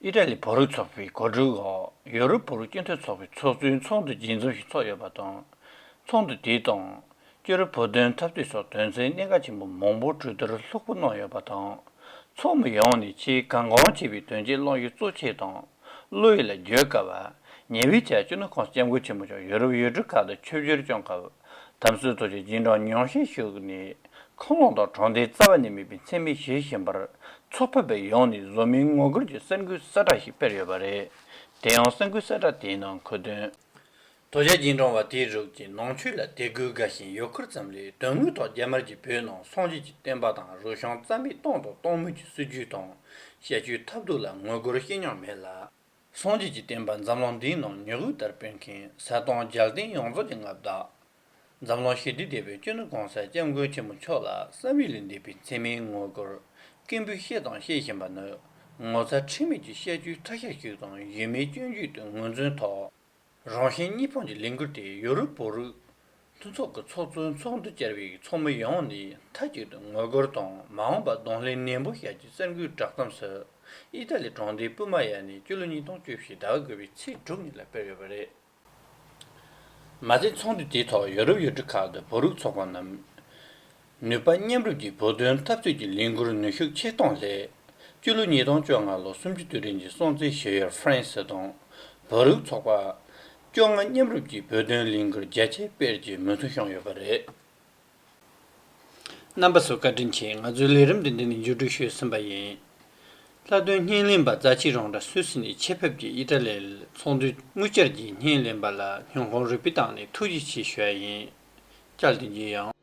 ཨི་ཏྲ་ལི་བོ་རུ་ཚོགས་པའི་གོ་སྒྲིག་འོག་ཡོ་རུབ་བོ་རུ་སྐྱེ་འཚར་ཚོགས་པའི་ཚོགས་གཙོའི་ཚོགས་འདུ་རྒྱས་འཛོམས་ཤིག་ཚོགས་ཡོད་པ་དང། ཚོགས་འདུ་དེའི་ཐོག་སྐྱེ་རུབ་བོ་དོན་འཐབ་དུས་སོགས་དོན་ཚན་གནད་འགག་ཆེན་པོ་མང་པོ་གྲོས་བསྡུར་ལྷུག་པོ་གནང་ཡོད་པ་དང། ཚོགས་མི་ཡོངས་ནས་ཆེས་གལ་འགངས་ཆེ་བའི་དོན་ཆེན་བླངས་ཡོད་གཙོ་ཆེ་དང་བློ་ཡིད་ལ་འགྱོད་དཀའ་བ། ཉེ་བའི་ཆར་སྤྱི་ནོར་ཁང་སྐྱབས་མགོན་ཆེན་མོ་མཆོག་ཡོ་རུབ་ཡུལ་གྲུ་ཁག་ཏུ་ཆོས་བཞུར་སྐྱོང་སྐབས། དམ་སྲི་རྡོ་རྗེ་སྦྱིན་གྲོགས་ཉོག་བཞིན་བཞུགས། ནི་ཁོང་ལོག་དང་གྲོང་སྡེའི་རྩ་བ་ནས་མིད་པའི་མཚན་མི་གཞིར་བཞེངས་པར་ཚོགས་ཕེབས་པའི་ཡོངས་ནི་བཟོ་མིའི་ངོ་རྒོལ་གྱི་གསར་འགུལ་གསལ་བསྒྲགས་ཤིག་སྤེལ་ཡོད་པ་རེད། དེ་ཡང་གསར་འགུལ་གསལ་བསྒྲགས་དེའི་ནང་འཁོད་དོན། རྡོ་རྗེ་སྦྱིན་གྲོང་བ་དེའི་རུག་ཅིང་ནང་ཆོས་ལ་དད་གུས་དགའ་ཞིང་ཡོ་འཁོར་ཙམ་ལས་དོན་དངོས་ཐོག་རྒྱ་དམར་གྱིས་བོད་ནང་སངས་རྒྱས་ཀྱི་བསྟན་པ་དང་རུ་ཤང་རྩ་མེད་གཏོང་དང་གཏོང་མུས་ཀྱི་སྲིད་བྱུས་དང་བཤད་བྱུས་ཐབས་སྡུག་ལ་ངོ་རྒོལ་ཤེས་མྱོང་མེད་ལ། སངས་རྒྱས་ཀྱི་བསྟན་པ་འཛམ་གླིང་འདིའི་ནང་ཉི་འོད་ལྟར་སྤེལ་མཁན་གསལ་སྟོང་རྒྱལ་བསྟན་ཡོངས་རྫོགས་ཀྱི་མངའ་བདག། འཛམ་གླིང་ཞི་བདེ་དད་པའི་གཅུན་ན་གོང་གསལ་སྐྱབས་མགོན་ཆེན་པོ་མཆོག་ལ་བསམ་ཡུལ་ལས་འདས་པའི་མཚན་མའི་དངོས་སྐོར་སྐད་འབོད་བཤད་དང་བཤད་བཞིན་པ་ནི་ངོ་ཚ་ཁྲེལ་མེད་ཀྱི་བཤད་རྒྱུའི་ཐ་ཤལ་ཞིག་དང་ཡུལ་མིའི་སྐྱོན་བརྗོད་དུ་ངོས་འཛིན་ཐོག་རང་ཞིང་གཉིས་ཕོངས་ཀྱི་ལས་འགུལ་དེ་ཡོ་རུབ་བོད་རིགས་མཐུན་ཚོགས་ཀྱི་ཚོགས་གཙོའི་ཚོགས་འདུ་བསྐྱར་བའི་ཚོགས་མི་ཡོངས་ནས་མཐའ་གཅིག་ཏུ་ངོ་རྒོལ་དང་མ་འོངས་པར་གདོང་ལེན་ནན་པོ་བྱ་རྒྱུའི་གསར་འགོད་བསྒྲགས་གཏམ་སུ་ཨི་ཏཱ་ལི་གྲོང་སྡེའི་སྤུ་མ་ཡ་ནས་སྤྱི་ལོ་ཉིས་སྟོང་བཅུ་བཞི་ཟླ་བ་དགུ་པའི་ཚེས་དྲུག་ཉིན་ལ་སྤེལ་ཡོད་པ་རེད། མ་ཟད་ཚོགས་འདུ་དེའི་ཐོག་ཡོ་རུབ་ཡུལ་གྲུ་ཁག་ཏུ་བོད་རིགས་ཚོགས་ཁང་རྣམས། ནུས་པ་མཉམ་རུབ་ཀྱིས་བོད་དོན་འཐབ་རྩོད་ཀྱི་ལས་འགུར་ནུས་ཤུགས་ཆེར་གཏོང་སླད། སྤྱི་ལོ་ཉིས་སྟོང་བཅོ་ལྔ་ལོ་སུམ་ཅུ་དུས་རིང་གི་སྲོང་བཙན་ཞེ་ཡོལ་ཧྥ་རན་སི་དང་བོད་རིགས་ཚོགས་པ། བཅོ་ལྔ་མཉམ་རུབ་ཀྱིས་བོད་དོན་ལས་འགུར་རྒྱ་ཆེ་སྤེལ་གྱི་མུ་མཐུད་ཤོང་ཡོད་པ་རེད། རྣམ་པ་ཚོས་བཀའ་དྲིན་ཆེ་ང་ཚོའི་ལས་རིམ་དེ་འདི་ནས་མཇུག་སྒྲིལ་ཞུས་ཟིན་པ་ཡིན། ལྷག་དོན་བརྙན་ལེན་པ་རྫ་ཆི་རོང་དྲ་སུས་སི་ནས་ཆེད་ཕེབས་ཀྱིས་དབྱི་ཏྲ་ལེ་ཚོགས་འདུའི་དངུལ་བཅར་གྱིས་བརྙན་ལེན་པ་ལ་ཉོན་ཧོང་རིག་པའི་ཏང་ནས་ཐུགས་རྗེ་ཆེ་ཞུ་ཡ་ཡིན། སྐྱར་དེ་རྗེས་ཡང།